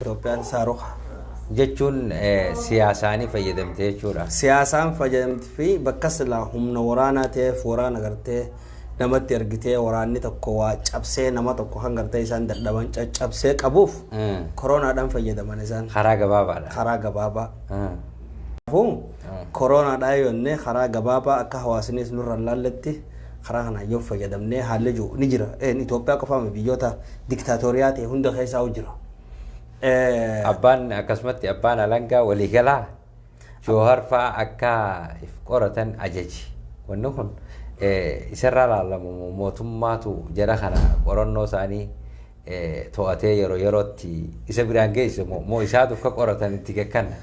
Itoophiyaan saaruqa jechuun siyaasaanii fayyadamte jechuudha. Siyaasaan fayyadamti fi bakka silaa humna waraanaa ta'eef waraana gartee namatti ergitee waraanni tokko waa cabsee nama tokko kan gartee isaan dadhaban caccabsee qabuuf koroonaadhaan fayyadaman isaan Karaa gabaabaadha. karaa gabaabaa. Kanaafuu koroonaadhaa yonnee karaa gabaabaa akka hawaasnis nurra hin laalletti Karaa kanaan yoo fayyadamnee haalli jiru ni jira. Een Itoophiyaa qofaa miti biyyoota diktaatoriyaa ta'e hunda keessaa jira. Eh, Abbaan akkasumatti abbaan alangaa waliigalaa Joohar fa'aa akka if qoratan ajaji. Wanni kun eh, isarraa laalamu mootummaatu jara kana qorannoo isaanii eh, to'atee yeroo yerootti isa biraan geesse moo moo isaatu akka qoratan itti kakkanna.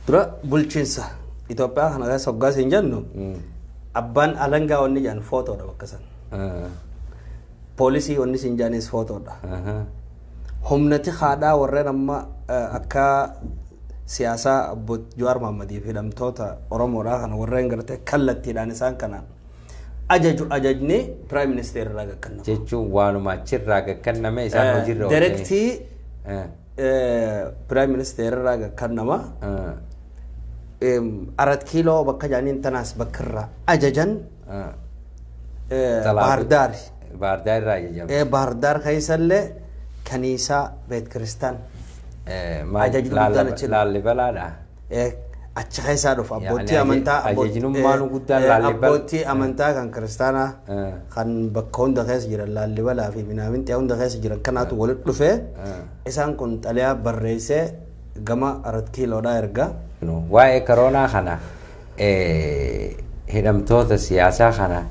Dura bulchiinsa Itoophiyaa kana keessa hoggaa siin jennu abbaan alangaa wanni jedhan footoodha bakka san. Poolisii wanni siin jedhanis footoodha. Humnati haadhaa warreen amma eh, akka siyaasaa obbo Jawaar Mahaammadiif hidhamtoota Oromoodhaa kana warreen gartee kallattiidhaan isaan kana ajaju ajajni piraayim ministeerri irraa gakkannama. Jechuun waanuma achirraa gakkanname isaan hojiirra oolchanii. Direktii Eh. Piraayim ministeerarraa gakkannama. Arat kiiloo bakka jaaniin tanaas bakka irraa ajajan Baardaari. Baardaar irraa ajajame. Baardaar keessallee kaniisaa beet kiristaan Ajajni guddaan achi- Laallibalaadha. Eh, achi keessaa dhufa Yaani abbootii aje- amantaa abbo- ajajinummaan eh, guddaan eh, Laallibal- abbootii amantaa kan kiristaanaa Eh. kan bakka hunda keessa jiran laallibalaa fi minaamintii hunda keessa jiran kanaatu walitti dhufee Eh. isaan kun xalayaa barreessee gama arat kiiloodhaa ergaa No. Waa'ee koroonaa kana hidhamtoota siyaasaa kana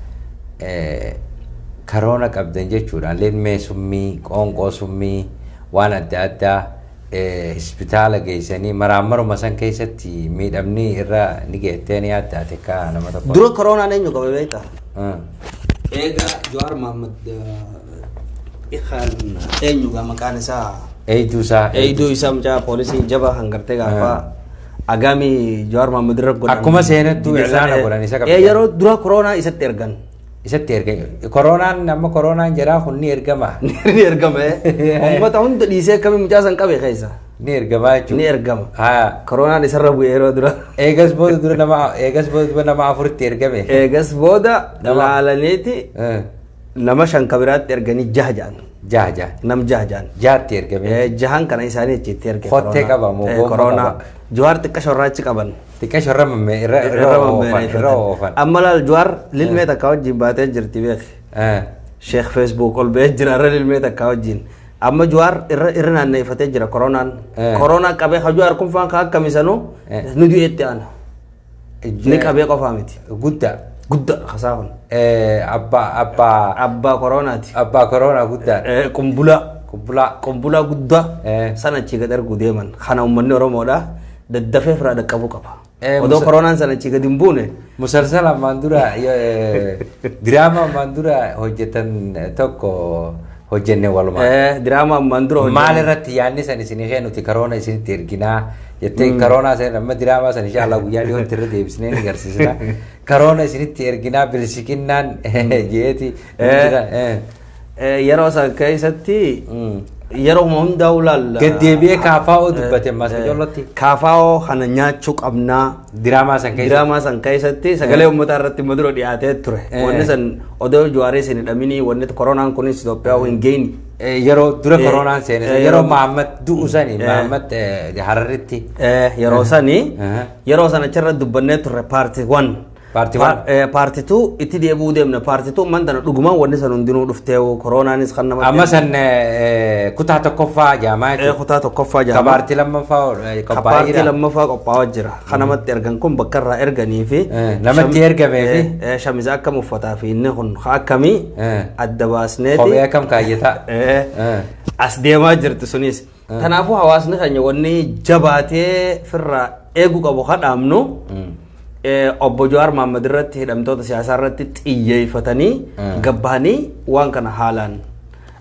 karoona qabdan jechuudhaan lilmee summii, qoonqoo summii, waan adda addaa hospitaala geessanii maraammaruma san keessatti miidhamni irra ni geettee ni adda ati akka nama tokko. Dura koroonaan eenyu qabe beektaa? Eegaa Jawaar Mahaammad kan eenyu maqaan isaa? Eeyduu isaa. Eeyduu isaa mucaa poolisii jabaa kan gartee gaafaa. Agaami Jawaar Mohaammed irra godhan. Akkuma seenattuu Giddeessaa irraana ta'e. godhan isa qabdi. Ee, Yeroo dura koroonaa isatti ergan. Isatti erga koroonaan amma koroonaan jedhaa kun ni ergama. Ni ergama. ee. Uummata hunda dhiisee akkamiin mucaa san qabe keessa. Ni ergamaa Ni jechuudha. ergama. Haa. Koroonaan isarra bu'e yeroo dura. Eegas booda dura nama eegas booda dura nama afuritti ergame. Eegas booda Nama- laalaniiti Eh. Nama shan ka biraatti erganii jaha ja'an. Jaha jaha. Nam jaha ja'an. Jaatti ergame. Eh, Jahan kana isaanii achitti erge. Kottee corona. qaba moo Eh, gomma corona. qaba? Jawaar xiqqasho irraa achi qaban. Xiqqeesho irra mammee irra irra Irra oofan mammeera irra oofan. Amma laal Jawaar lilmee takka wajjin baatee jirti beeki. Eh, Sheekh Facebook ol ba'ee jira irra lilmee takka wajjin. Amma Jawaar irra irra naanneeffatee jira koronaan. Eh. Koronaa qabee ka Jawaar kun faan ka akkamisanuu Eh. nu du'eetti aana. Ni qabee qofaa miti. Guddaa. Guddaa kasaa kun. Eh, Abbaa abbaa Abbaa koroonaati. abbaa koroonaa guddaa. Eh, Qumbulaa. Qubbulaa. Qumbulaa guddaa Eh. sana achii gad arguu deeman. Kana uummanni Oromoodha. Daddafee firaa dhaqqabuu qaba. Eh, Odoo Musa- koroonaan sana achii gad hin buune. Musalsala ammaan dura eh, diraama ammaan dura hojjetan tokko hojjenne walumaan. Eh, Diraamaa ammaan dura hojjenne. Maal irratti yaadni san isinii kee nuti karoona isinitti erginaa jettee karoonaa san amma diraamaa san insha Allah guyyaa dhiyootti irra deebisnee ni garsiisna. Karoona isinitti erginaa bilisiqinnaan jeeti. Eh. Eh, Yeroo san keessatti yeroo hundaa ulaalla. Gaddeebi'ee kaafaa'oo dubbate maas ijoollotti. Kaafaa'oo kana nyaachuu qabnaa. Diraamaa san keessa. Diraamaa san keessatti sagalee uummataa irratti immoo dura dhiyaatee ture. Eh. Wanni san odoo Juwaaris hin hidhaminii wanni koronaan kunis Itoophiyaa hin geenye. Eh, Yeroo dura Eh, koronaan seene eh, yeroo yeroo- Mahammad du'u sani Eh. Mahammad eh, Hararritti. Eh, yeroo sani Aha. yeroo sana achirra dubbannee turre paarti wan Paarti one. paarti tu itti deebi'uu deemna paarti tu man tana dhugumaan wanni san hundinuu dhuftee koronaanis kan nama Amma san eh, kutaa tokkoffaa jaamaa Eh, kutaa tokkoffaa jaamaa. Kabaartii lammaffaa Kapaartii lammaffaa qophaa'aa jira. Kan namatti ergan kun bakka irraa erganii fi namatti ergamee fi shamiza akkam uffataa fi inni kun akkamii adda baasneeti. Kophee akkam kaayyataa. As deemaa jirti sunis. Kanaafuu hawaasni keenya wanni jabaatee firraa eeguu qabu kadhaamnu obbo Jawaar Mahammad irratti hidhamtoota siyaasaa irratti xiyyeeffatanii gabbahanii waan kana haalaan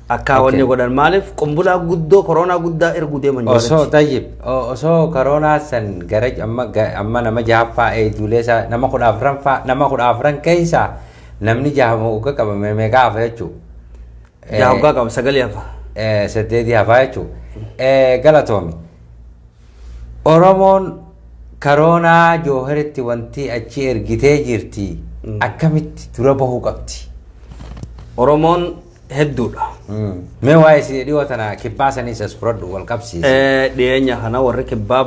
Akkaa Okay. wanni godhan maaliif qumbulaa guddoo koroonaa guddaa erguu deeman Osoo jaalatti. tayyib o- osoo koroonaa san gara amma ga- amma nama jahaffaa eeyduulee isaa nama kudha afran faa nama kudha afran keessa namni jahama hogga qabame meeqa hafa jechuu? Yaa hoggaa qaba sagalee hafa. Eh, saddeetii hafaa jechuu. Eh, Galatoomi. Oromoon koroonaa jooharitti wanti achi ergitee jirti akkamitti dura bahuu qabdi? Oromoon hedduudha. Mee waa'ee si- dhiyoo tana kibbaa saniis as fudhadhu wal qabsiise. Eh, Dhiyeenya kana warri kibbaa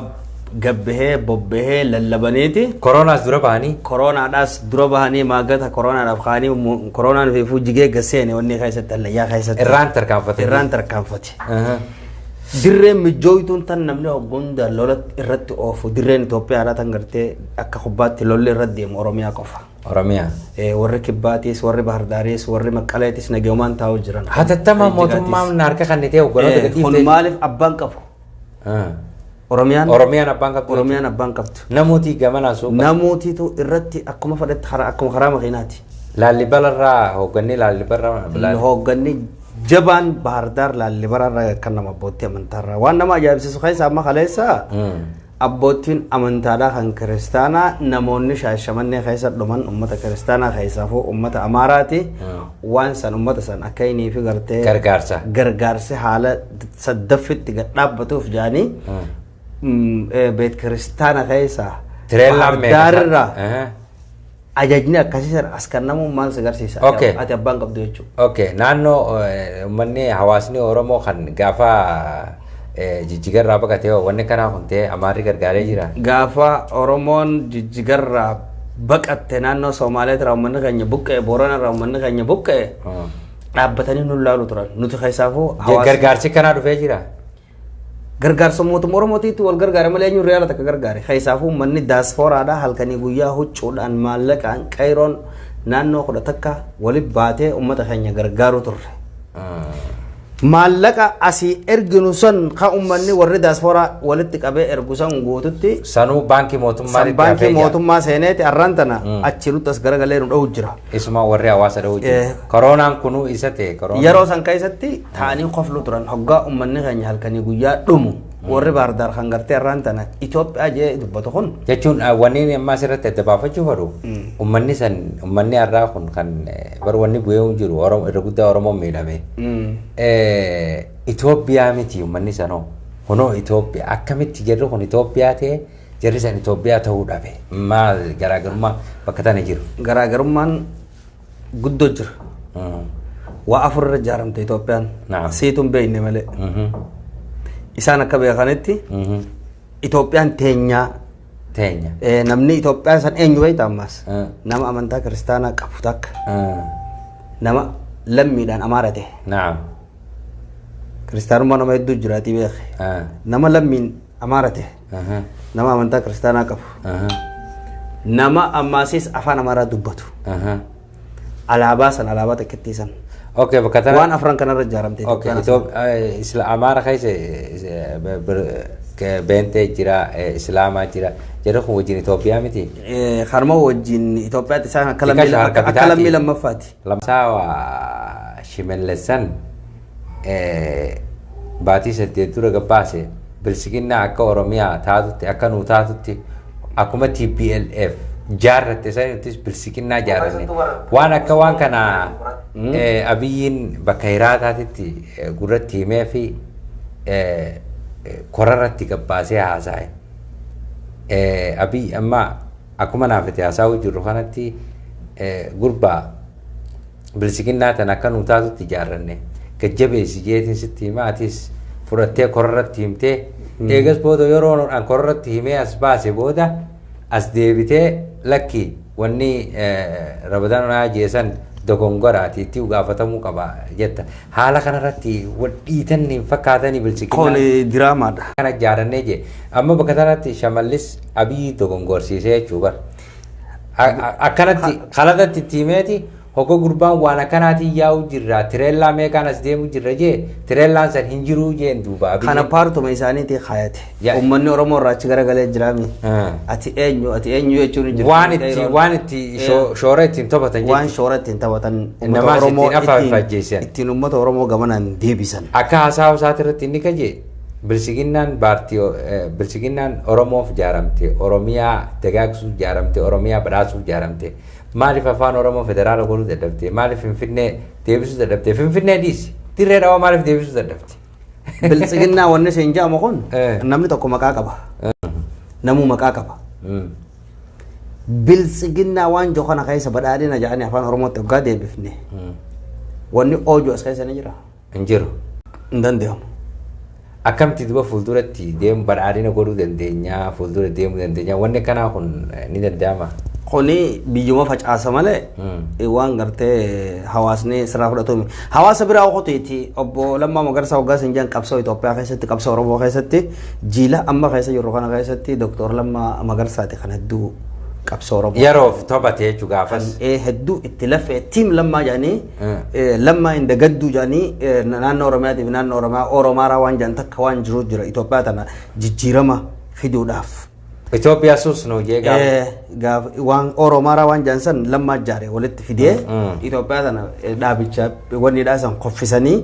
gabbahee bobbahee lallabaniiti. Koroonaas dura bahanii Koroonaadhaas dura bahanii maaggata koroonaadhaaf kaanii mu- koroonaan fiifuu jigee gaseene wanni keessatti hallayyaa keessatti. irraan tarkaanfatanii. Irraan tarkaanfate. Aha. Dirreen mijjooytuun tan namni hoggonda lola irratti oofu dirreen Itoophiyaadhaa tan gartee akka kubbaatti lolli irra deemu Oromiyaa qofa. Oromia. Eh, warri Kibbaatiis, warri Bahardaariis, warri Maqqaleetis nagayumaan taa'u jiran. Hatattamaan Kan Jijjigaatis. mootummaan harka kan nitee hogganoota Eh, Kun gadhiiftee. maaliif abbaan qabu? Ah. Oromiyaan Oromiyaan abbaan qabdu. Oromiyaan abbaan qabdu. Namooti gamanaa suuqa. Namootatu irratti akkuma fedhetti karaa akkuma karaa makiinaati. Laallibalarraa hoggannee laallibarraa. Hoogganni jabaan Bahardaar Laallibaraa irraa kan nama abbootii amantaa irraa waan nama ajaa'ibsiisu keessaa amma kaleessa Mm. Abboottiin amantaadhaa kan kiristaanaa namoonni shaashamannee keessa dhuman ummata kiristaanaa keessaafuu ummata amaaraati waan san ummata san akka inii fi gartee Gargaarsa. gargaarsi haala saddaffitti gad dhaabbatuuf jaanii beet kiristaana keessa Tireellaan meeqa isaa? Bahardaarraa Aha. Ajajni akkasii sana as kennamuun maal si agarsiisa? Ati- Okay. Ati abbaan qabdu jechuudha. Okay, naannoo eh, uummanni hawaasni Oromoo kan gaafa eh, jijjigarraa baqatee hoo wanni kanaa kun ta'e amaarri gargaaree jira. Gaafa Oromoon jijjigarraa baqatte naannoo Somaaliyaa irraa uummanni keenya buqqa'e, Boorana irraa uummanni keenya buqqa'e Hmm. dhaabbatanii nu ilaalu turan. Nuti keessaafuu hawaasni- Gargaarsi kanaa dhufee jira. Gargaarsa mootumma Oromootiitti wal gargaare malee eenyuun riyaala takka gargaare? Keessaafuu uummanni daaspooraadhaa halkanii guyyaa huccuudhaan maallaqaan qayroon naannoo kudha takka wali baatee uummata keenya gargaaruu turre. Maallaqa asii erginu san kan uummanni warri daaspooraa walitti qabee ergu san guututti Sanuu baankii mootummaa san baankii mootummaa seeneeti arraan tana achi nutti as garagalee nu dha'u jira. Isuma warri hawaasa dha'uu jiru. Eh. Koroonaan kunuu isa ta'e. koroonaan. Yeroo san keessatti taa'anii koflu turan hoggaa ummanni keenya halkanii guyyaa dhumu warri baardaar kan gartee irraan tana Itoophiyaa jee dubbatu kun jechuun ah, wanni inni ammaa asirratti adda baafachuu fedhu ummanni san ummanni har'aa kun kan eh, bar wanni bu'ee hin jiru Oromo- irra guddaa oromoon miidhame Eh, Itoophiyaa miti ummanni sanoo kunoo Itoophiyaa akkamitti jarri kun Itoophiyaa ta'e jarri san Itoophiyaa ta'uu dhabe maal garaagarummaa bakka tana jiru garaagarummaan guddoo jira. Waa afur irra ijaaramte Itoophiyaan. Naam. Siitu hin beekne malee. Isaan akka beekanitti Itoophiyaan teenyaa Teenya. eh, namni Itoophiyaa san eenyu beekta ammaas. Eh. Nama amantaa kiristaanaa qabu takka nama lammiidhaan amaara ta'e. Naam. Kiristaanummaa nama hedduu jiraatii beeke. Nama lammiin amaara ta'e. Aha. nama amantaa kiristaanaa qabu Aha. nama ammaasiis afaan amaaraa dubbatu Aha. alaabaa san alaabaa xiqqittii san Okay, bakka tana. waan afran kanarra ijaaramte Okay, Itoophiyaa sana. Itoophiyaa eh, isla Amaara keessa eh, be- be- ke- beentee jira, eh, Islaamaa jira. Jedhu kun wajjin Itoophiyaa miti. Eh, kanuma wajjin Itoophiyaatti isaan akka Xiqqaa lammii- shaharka akka- akka bitaati. lammii lammaffaati Lamsaa waa shimellessan baatii saddeet dura gabbaase bilsiginnaa akka Oromiyaa taatutti akka nuu taatutti akkuma TPLF jaarratte sanittis bilsiginnaa jaarranne waan akka waan kana abiyyiin bakka hiraataatitti gurratti himee fi korarratti gabbaasee haasa'e. Abiyyi amma akkuma naaf itti haasa'uu jirru kanatti gurbaa Bilsiginnaa tana akka nuu taatutti ijaarranne gad-jabeessi jeetiin sitti himaa atis fudhattee korarratti himtee eegas booda yeroo an korarratti himee as baase booda as deebitee lakki wanni rabadaan naa jeesan dogongoraati itti gaafatamuu qaba jetta. Haala kanarratti wal dhiitan hin fakkaatanii bilsiginnaan. Kun diraamaadha. Kana ijaarannee jee. Amma bakka tanatti shamallis abiyyi dogongorsiisee jechuu bar. Akkanatti kalatatti itti himeeti hogga gurbaan waan akkanaatiin yaa'u jirra tireellaa meeqaan as deemu jirra jee tireellaan san hin jiruu jeen duuba abiyyi. Kana paartuma isaaniitii kaayate. Ya- Uummanni Oromoo irraa achi garagalee jiraami. Ah. Ati eenyu ati eenyu jechuun hin jiru. waan itti waan itti shoo- shoora ittiin taphatan waan jechuudha. shoora ittiin taphatan Namaas ittiin afaan faajjeessan. ittiin uummata Oromoo gamanaan deebisan. Akka haasaa haasaati irratti inni kajee Bilxiginnaan baartii Bilxiginnaan Oromoof jaaramte, Oromiyaa dagaagsuuf jaaramte, Oromiyaa badhaasuuf jaaramte. Maaliif Afaan Oromoo federaala godhuu dadhabde? Maaliif Finfinnee deebisuu dadhabde? Finfinnee dhiisi. Dirree dhawaa maaliif deebisuu dadhabde? Bilxiginnaa wanni siin jedhamu kun Eh. namni tokko maqaa qaba. Namuu maqaa qaba. Mm. Bilxiginnaa waan jiru kana keessa badhaadhina jedhanii afaan Oromootti hoggaa deebifne Mm. wanni oojuu as keessa ni jira. hin jiru. hin danda'amu. Akkamti duba fuulduratti deemu badhaadhina godhuu dandeenya, fuuldura deemuu dandeenya. Wanni akkanaa kun eh, ni danda'ama. Kuni biyyuma facaasa malee Hmm. eh, waan gartee hawaasni sirraa fudhatu miti. Hawaasa biraa okoteeti obbo Lammaa Magarsaa waggaa isin jedhan qabsoo Itoophiyaa keessatti qabsoo Oromoo keessatti jiila amma keessa jirru kana keessatti Dooktor Lammaa Magarsaati kan hedduu qabsoo Oromoo. Yeroof tophate jechuu gaafas. Eh, hedduu itti lafee tiim lammaa jedhanii Lammaa hin dagadduu jedhanii naannoo Oromiyaatiif naannoo Oromiyaa Oromaaraa waan jedhan takka waan jiru jira Itoophiyaa tana jijjiirama fiduudhaaf. Itoophiyaa suus noo jee gaaf. Eh, gaaf waan Oromaaraa waan jedhan san lammaa jaare walitti fidee Itoophiyaa tana eh, dhaabicha wanni dhaasan koffisanii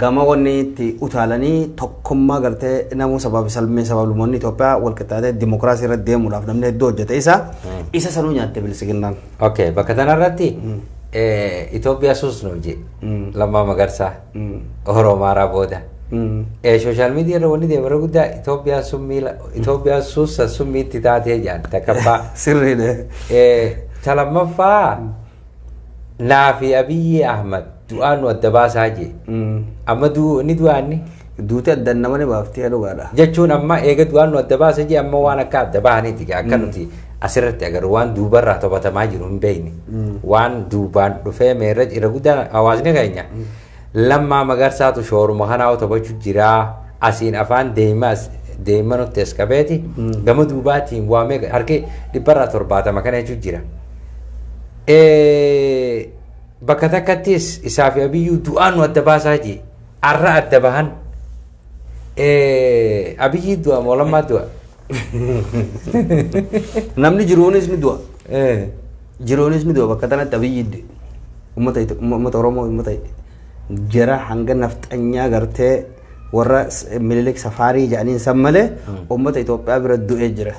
gama wanni itti utaalanii tokkummaa gartee namuu sababi salmee sabablumoonni Itoophiyaa walqixxaatee dimokiraasii irra deemuudhaaf namni hedduu hojjete isa isa sanuu nyaatte bilisiginnaan. Ok, bakka tanarratti Itoophiyaa suus nuuf jee lammaa magarsaa Oromoo maaraa booda. Sooshaal miidiyaa irra wanni deemarra guddaa Itoophiyaan summii Itoophiyaan suussa summii itti taatee jaan takkaffaa. Sirriidha. Ta lammaffaa naa fi Abiyyi Ahmad du'aan nu adda baasaa jee. Amma inni du'aanni. Duuti addan nama ni baafti yaa dhugaadha. jechuun amma eega du'aan nu adda baase jee amma waan akka adda bahaniiti gaa akka nuti asirratti agarru waan duubarraa tophatamaa jiru hin beekne waan duubaan dhufee meerra irra guddaan hawaasni keenya lammaa magarsaatu shooruma kanaa tophachu jiraa asiin afaan deemas deema nutti eskabeeti gama duubaatiin waa meeqa harki dhibbarraa torbaatama kana jechuun jira. Eh, Bakka takkattis isaa fi abiyyuu du'aan nu adda baasaa jee. Arra adda bahan. Eh, Abiyyi du'a moo lammaa du'a? Namni jiruunis ni du'a. Eh, Jiruunis ni du'a bakka tanatti abiyyi du'e. Uummata Ito- uummata Oromoo uummata jara hanga nafxanyaa gartee warra s- Minilik safaarii jedhaniin san malee uummata Itoophiyaa bira du'ee jira.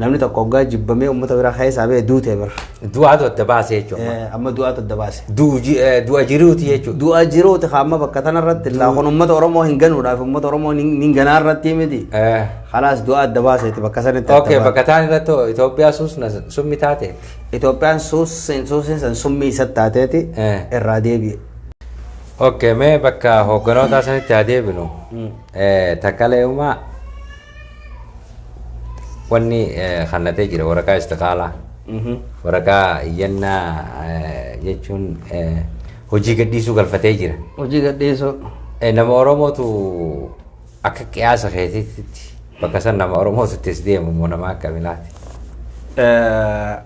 Namni tokko hoggaa jibbamee uummata biraa keessaa ba'e duute bar. Du'aatu adda baasee jechuudha. Eh, Amma du'aatu adda baase. Du'u ji- eh, Du'a jiruuti jechuudha. Du'a jiruuti kaamma bakka tanarratti illaa kun uummata Oromoo hin ganuudhaaf uummata Oromoo hin hin ganaa irratti miti. Eh, Kalaas du'a adda baaseeti bakka sanitti Ok, adda baase. bakka taan irratti hoo Itoophiyaa suusna summi taate. Itoophiyaan suusiin suusiin san summii isa taateeti Eh. irraa deebi'e. Ok, mee bakka hoogganoota sanitti haa deebinu. Eh, Takkalee'umaa wanni eh, kannatee jira waraqaa istiqaalaa Mhm. waraqaa iyyannaa eh, jechuun eh, hojii gadhiisuu galfatee jira Hojii gadhiisuu. Eh, nama oromootu akka qiyaasa keetiitti bakka san nama oromootu ittis deemu immoo nama akka bilaati Eh,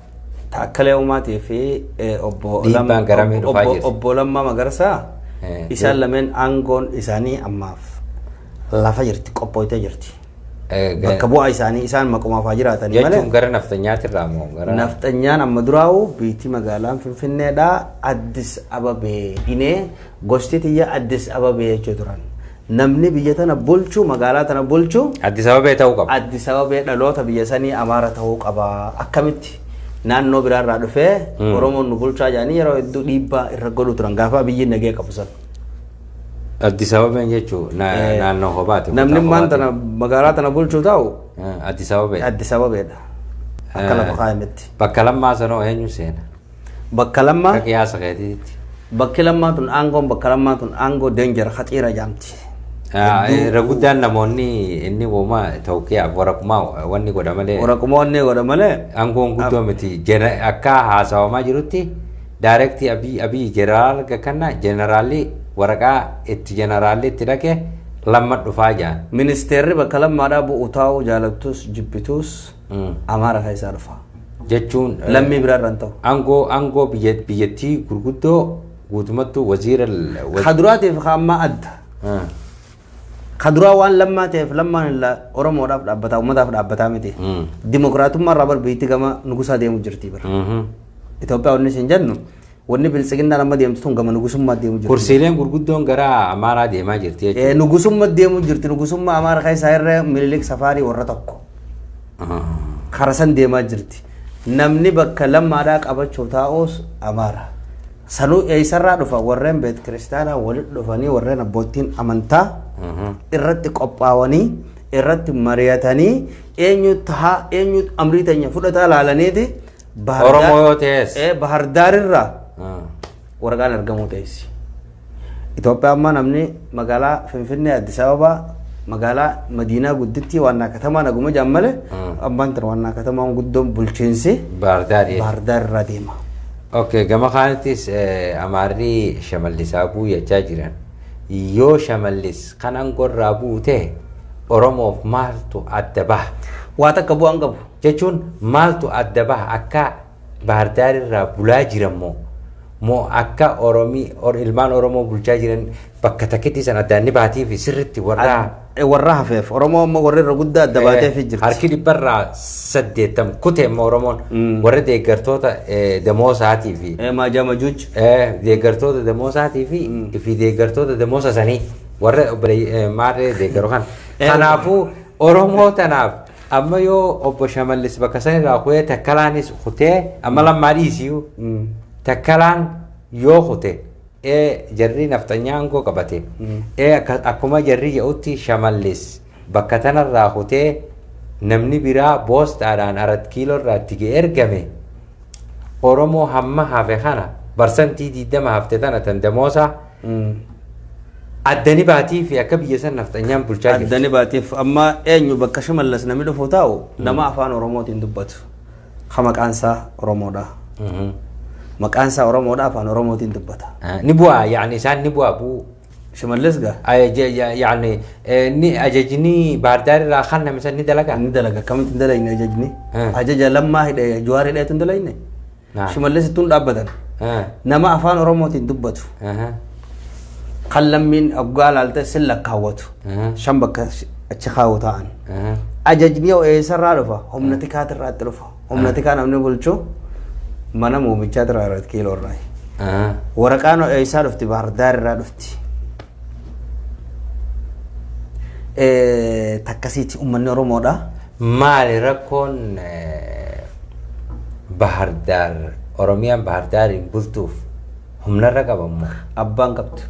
Taakkalee Uumaatii fi eh, obbo Dhiibbaan Lam- garamii dhufaa obbo- jirti. obbo Lammaa Magarsaa Eh, isaan lameen aangoon isaanii ammaaf lafa jirti qophooytee jirti. Eh, ga- Bakka bu'aa isaanii isaan maqumaaf haa jiraatanii malee. Jechuun gara nafxanyaati irraa moo gara Nafxanyaan amma duraa'u biitii magaalaan Finfinneedha Addis Ababee inee gosti tiyya Addis Ababee jechuu turan. Namni biyya tana bulchu magaalaa tana bulchu Addis Ababee ta'uu qaba. Addis Ababee dhaloota biyya sanii Amaara ta'uu qaba. Akkamitti naannoo biraarraa dhufee Oromoon nu bulchaa jedhanii yeroo hedduu dhiibbaa irra godhu turan gaafa biyyi nagee qabu sana. Addis Ababeen jechuun na- Eh, naannoo kophaati. Namni kutaa ammaan kophaati. tana magaalaa tana bulchu taa'u Eh, Addis Ababee. Addis Ababeedha. Akka Eh. lafa kaa'ametti. Bakka lammaa sanoo eenyu seena? Bakka lammaa Akka qiyaasa keetiitti. bakki lammaa tun aangoon bakka lammaa tun aangoo deenjera haxiira jaamti. Ah, eh, Irra guddaan namoonni inni uumaa tawqiyaaf waraqummaa wanni godha malee Waraquma onnee godha malee aangoon guddoo miti. Jena- Akka haasawamaa jirutti Direct Abiy Abiy General ga kanna Generalli waraqaa itti Generalli itti dhaqe lamma dhufaa ja'an. Ministeerri bakka lammaadhaa bu'u taa'uu jaalattus jibbituus Amaara keessaa dhufa. Jechuun Lammii biraa irra hin ta'u. Angoo angoo biyya biyyattii gurguddoo guutumattuu waziira Ka duraatiif ka ammaa adda. Ka duraa waan lammaa ta'eef lammaan illaa Oromoodhaaf dhaabbataa uummataaf dhaabbataa miti. Mm. Dimokiraatummaa irraa bar biyyatti gama nugusaa deemu jirti bara. Mhm. Itoophiyaa wanni isin jennu wanni biltsiginnaan amma deemtu tun gama nugusummaa deemu jirti. Kursiileen gurguddoon gara Amaaraa deemaa jirti jechuudha. Eh, Nugusummaa deemu jirti nugusummaa Amaara keessaa irra Minilik Safaarii warra tokko. Ah. Karasan deemaa jirti. Namni bakka lammaadhaa qabachuu taa'us Amaara. Sanuu eessarraa dhufa warreen beet kiristaanaa walitti dhufanii warreen abboottiin amantaa irratti qophaawanii irratti mari'atanii eenyu tahaa eenyu amrii teenya fudhataa laalaniiti Bahar Daar- Oromoo yoo ta'es. Eh, Bahar Daarirraa Mm. waraqaan argamuu teessi. Itoophiyaa ammaa namni magaalaa Finfinnee Addis Ababaa magaalaa Madiinaa guddittii waannaa katamaa naguma jaan malee abbaan tan waannaa katamaan guddoon bulchiinsi Baardaar. Bahar Daar irraa deema. Ok gama kaanittis Amaarri Shamallis haa bu'u jechaa jiran. Yoo Shamallis kan angorraa bu'u ta'e Oromoof maaltu adda baha? Waa takka bu'aan qabu. Jechuun maaltu adda baha akka Baahirdaar irraa bulaa jiran moo moo akka Oromii ilmaan Oromoo bulchaa jiran Bakka takkitti san addaan ni baatii fi sirritti warra Ad- warra hafeef oromoo amma warri irra guddaa adda baateef jirti harki dhibbarraa saddeettam kute immoo Oromoon warra deeggartoota eh, damoosaatii fi Eh, maajaa majuuj eh, deeggartoota damoosaatii fi fi deeggartoota damoosa sanii warra obbolee- eh, maarree deeggaru kan Eh, kanaafuu Oromoo tanaaf amma yoo obbo Shamallis bakka san irraa kutee takkalaanis kutee amma lammaa dhiisiyu takkalaan yoo kute e Jarri nafxanyaa aangoo qabate e Akkuma jarri ja'utti Shamallis bakka tanarraa kutee namni biraa boostaadhaan Arat Kiiloo irraa itti ga'e ergame Oromoo hamma hafe kana barsantii 20 hafte tana tan damoosaa addani baatii fi akka biyya san nafxanyaan bulchaa jirti. Addani baatiif amma eenyu bakka Shimallis namni dhufu taa'u nama afaan Oromootiin dubbatu. Ka maqaan isaa Oromoodha. Maqaan isaa Oromoodha afaan Oromootiin dubbata. Ah, Ni bu'aa yaani isaan ni bu'aa bu'uu. Shimallis gaa Ah, ja- ja- Yaani eh, ni ajajni baardaar irraa kan namisan ni dalagaa. ni dalaga akkamitti hin dalagine ajajni. Hmm. Ajaja lammaa hidhee Jawaar hidheetu hin dalagine. Naam. Shimallis ittuun dhaabbatan. Ah, Nama afaan Oromootiin dubbatu. aha, Kan lammiin oggaa laalte sin lakkaawwatu. aha. Shan bakka achi kaa'u taa'an. Ajajni hoo eessarraa dhufa? Humna tikaatirraatti dhufa. Humna tikaa namni bulchu mana muumichaa irraa irratti kiiloo irraa. Waraqaan hoo eessaa dhufti? Baardaar irraa dhufti. Eh, Takkasiiti uummanni Oromoodha. Maali rakkoon eh, Bahar Daar Oromiyaan Bahar Daariin bultuuf humnarra qabammoo? Abbaan qabdu.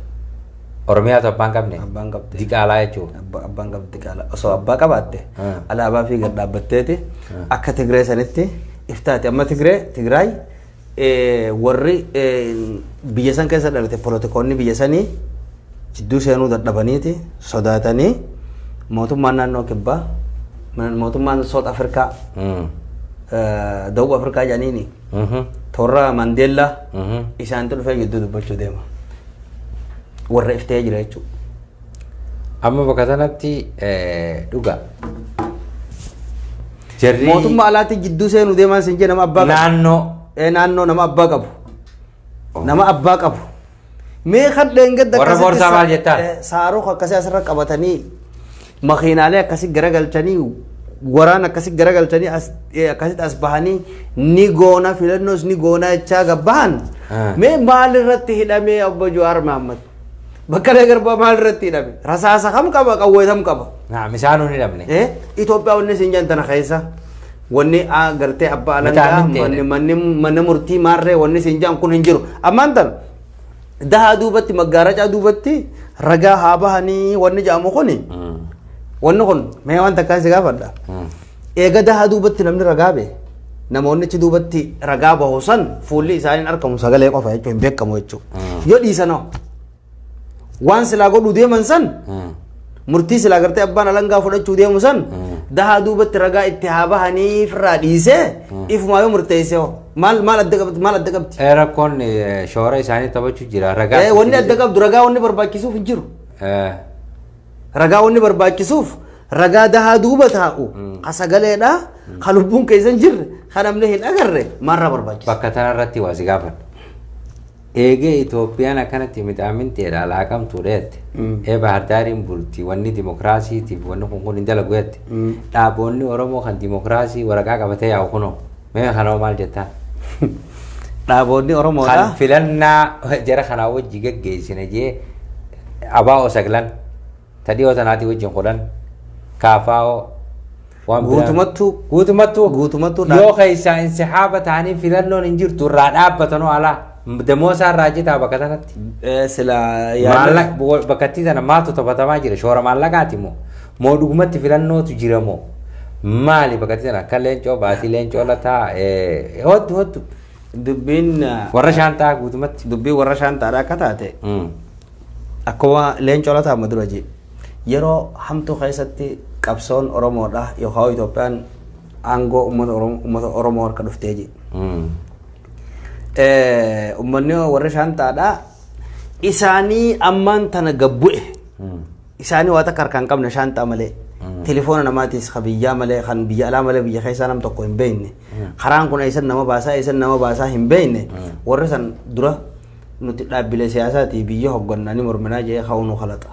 Oromiyaatu abbaan qabne. Abbaan qabde. Diqaalaa jechuun. Abba- abbaan qabdi diqaalaa osoo abbaa qabaatte Hmm. alaabaa fi gad dhaabbatteeti akka tigree sanitti iftaati amma tigree tigraay eh, warri eh, biyya san keessa dhalate poolotikoonni biyya sanii jidduu seenuu dadhabaniiti sodaatanii mootummaan naannoo kibbaa man- mootummaan soot afrikaa Mm. eh, dawub afrikaa jedhaniini Mhm. torra mandeellaa Mhm. isaantu dhufee jidduu dubbachuu deema warra if ta'ee jira jechuudha. Amma bakka sanatti eh, dhugaa. Jarri Mootummaa alaatti jidduu seenuu deemaan siin jee nama abbaa qabu. naannoo Ee, naannoo nama abbaa qabu. Nama abbaa qabu. Mee kan dheengadda Warra akkasitti boorsaa sa- maal jettaan? eh, Saaroo akkasii asirra qabatanii makiinaalee akkasi garagalchanii waraan akkasi garagalchanii as- eh, akkasitti as bahanii ni goona filannoos ni goona jechaa gabbahan Ah. mee maal irratti hidhamee obbo Jawaar Mahaammad Baqqalee Garbaa maal irratti hidhame rasaasa kam qaba qawwee kam qaba Naam isaan hin hidhamne. Eh, Itoophiyaa wanni isin jedhan tana keessa wanni ah, gartee abbaa Mataa alangaa mintee. manni manni manni murtii maarree wanni isin jedhan kun hin jiru ammaan tana Dahaa duubatti maggaaracaa duubatti ragaa haa bahanii wanni jedhamu kuni wanni kun mee waan takkaan si gaafadha. Eega dahaa duubatti namni ragaa bee namoonni achi duubatti ragaa bahu san fuulli isaanii hin argamu sagalee qofa jechuun hin beekamu jechuudha. Yoo dhiisanoo waan silaa godhuu deeman san Murtii silaa gartee abbaan alangaa fudhachuu deemu san dahaa duubatti ragaa itti haa bahanii firraa dhiisee ifumaa yoo murteessee hoo maal maal adda qabdi maal adda qabdi. Eh, Rakkoon eh, shoora isaanii taphachuu jira. Ragaa Eh, Wanni adda qabdu ragaa wanni barbaachisuuf hin jiru. Eh, Ragaa wanni barbaachisuuf ragaa dahaa duuba taa'u ka sagaleedha ka lubbuun keessa hin jirre ka namni hin agarre maarraa barbaachisa. Bakka tanarratti waa si gaafadha. Eegee Itoophiyaan akkanatti mixaaminxeedha, laaqamtuudha jette. Ee Bahardaariin bulti, wanni dimokiraasiitiif wanni kun kun hin dalagu jette. Dhaaboonni Oromoo kan dimokiraasii waraqaa qabatee yaa'u kunoo. Mee kanoo maal jettaan? Dhaaboonni Oromoodha. Kan filannaa jara kanaa wajji geggeessine jee abaa osaglan. Ta dhiyoo tanaatii wajjin kudhan. Kaafaa'oo. Waan biraa- Guutumattuu Guutumattuu. Guutumattuu dha- Yoo keessaa insihaaba ta'anii filannoon hin jirtu irraa dhaabbatanoo alaa. Damoosaa irraa citaa bakka tanatti. eh, sila Maallaqa bakkattii sana maaltu taphatamaa jira? Shoora maallaqaati moo? Moo dhugumatti filannootu jira moo? Maali bakkattii sana akka leencoo baatii leencoo lataa eh, hottu hottu. dubbiin eh, Warra shaantaa guutumatti. dubbiin warra shaantaadha akka taate Mm. Akkuma Leencoo Lataa amma dura jee yeroo hamtuu keessatti qabsoon Oromoodha yookaan Itoophiyaan aangoo uummata Oromoo uummata Oromoo harka dhuftee jee. Eh, Uummanni warri shaantaadha isaanii ammaan tana gabbu'e isaanii waa takka harkaan qabne shaantaa malee telefoona namaatis kan biyyaa malee kan biyya alaa malee biyya keessaa nam tokko hin beekne karaan kun eessan nama baasaa eessan nama baasaa hin beekne warri san dura Nuti dhaabbilee siyaasaatii biyya hoggannaa ni morminaa jedhee ka'uu nu kalaxa.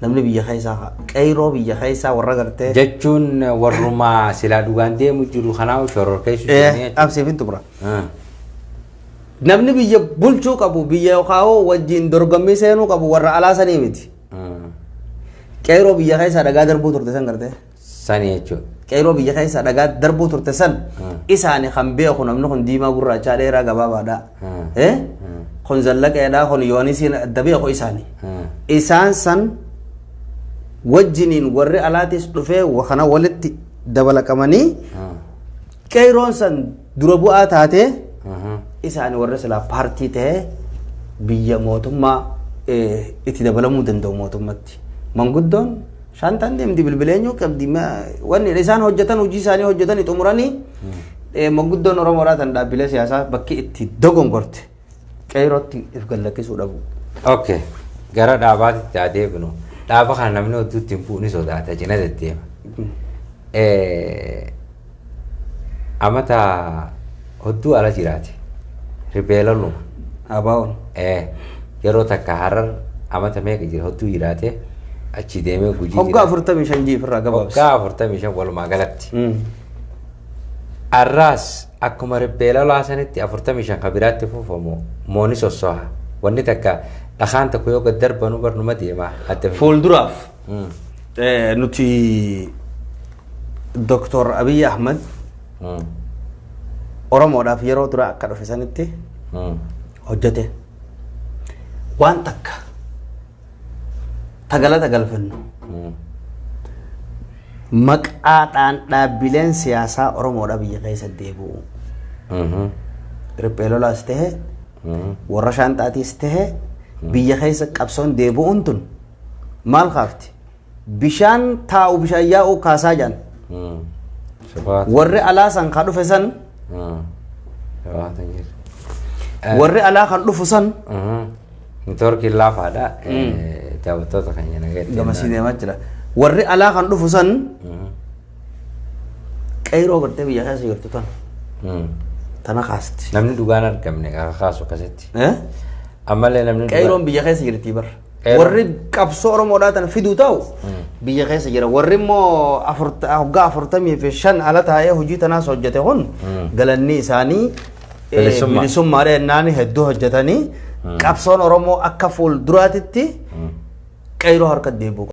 Namni biyya keessaa ka'a. Qeyroo biyya keessaa warra gartee. Jechuun warrumaa silaa dhugaan deemu jiru kanaa shororkeessu jennee jechuudha. Qabsiif hin xumura. Ah. Namni biyya bulchuu qabu biyya yookaan hoo wajjin dorgommii seenuu qabu warra alaa sanii miti. Ah. Qeyroo biyya keessaa dhagaa darbuu turte san gartee. Sani jechuudha. Qeeroo biyya keessa dhagaa darbuu turte san isaani kan beeku namni kun diimaa gurraachaa dheeraa gabaabaadha. Eh? Kun zallaqeedha kun yoonisiin adda beeku isaani. Isaan san wajjiniin warri alaatis dhufee wa- kana walitti dabalaqamanii qeeroon san dura bu'aa taatee isaan warra silaa paartii ta'ee biyya mootummaa eh, itti dabalamuu danda'u mootummatti. Manguddoon shaantaan deemti bilbila eenyuu qabdi ma- wanni isaan hojjetan hojii isaanii hojjetanii xumuranii eh, manguddoon Oromoodhaa tan dhaabbilee siyaasaa bakki itti dogongorte. qeerootti if gallakkisuu dhabuu. Ok. Gara dhaabaatitti haa deebinu. Dhaaba kana namni hedduutti hin bu'u ni sodaata cina deddeema. Eh, Amata hedduu ala jiraate. Ribeelaluma. Abaawoon. Eh, yeroo takka harar amata meeqa jira hedduu jiraate achi deemee gujii Hoggaa jiraate. afurtamii shan jiif irraa gabaabsa. Hoggaa afurtamii shan walumaa galatti. Mm. Arraas Akkuma riphee lolaa sanitti 45 ka biraatti fuufa moo, moo ni sossoha? Wanni takka dhakaan tokko yoo gad darbanu bar numa deema adda fidee. Fuulduraaf Mm. eh, nuti Doktor Abiy Ahmed Mm. Oromoodhaaf yeroo duraa akka dhufe sanitti Mm. hojjete. Waan takka ta galata galfannu maqaadhaan dhaabbileen siyaasaa Oromoodha biyya keessa deebi'u. Riphee lolaas ta'e warra shaanxaatiis ta'e biyya keessa qabsoon deebi'uun tun maal kaafti? bishaan taa'u bishaan yaa'u kaasaa jedhan Hmm. Shabaata. warri alaa san ka dhufe san Hmm. Shabaata jira. warri alaa kan dhufu san Mhm. Networkiin laafaadha. Eh, Daawwattoota keenya nageetti. gamasii deemaa jira warri alaa kan dhufu san Mhm. qeyroo gartee biyya keessa jirtu tan Hmm. tana kaasti Namni dhugaan argamne kaakaasu akkasitti. Eh? Ammallee namni dhugaan- qeyroon biyya keessa jirti bar Warri qabsoo Oromoodhaa tana fiduu ta'u biyya keessa jira. Warri immoo afurta- hoggaa afurtamii fi shan ala taa'ee hojii tanaas hojjete kun galanni isaanii eh, Bilisummaa. bilisummaa dheennaan hedduu hojjetanii qabsoon Oromoo akka fuulduraatitti qeyroo harka deebi'u.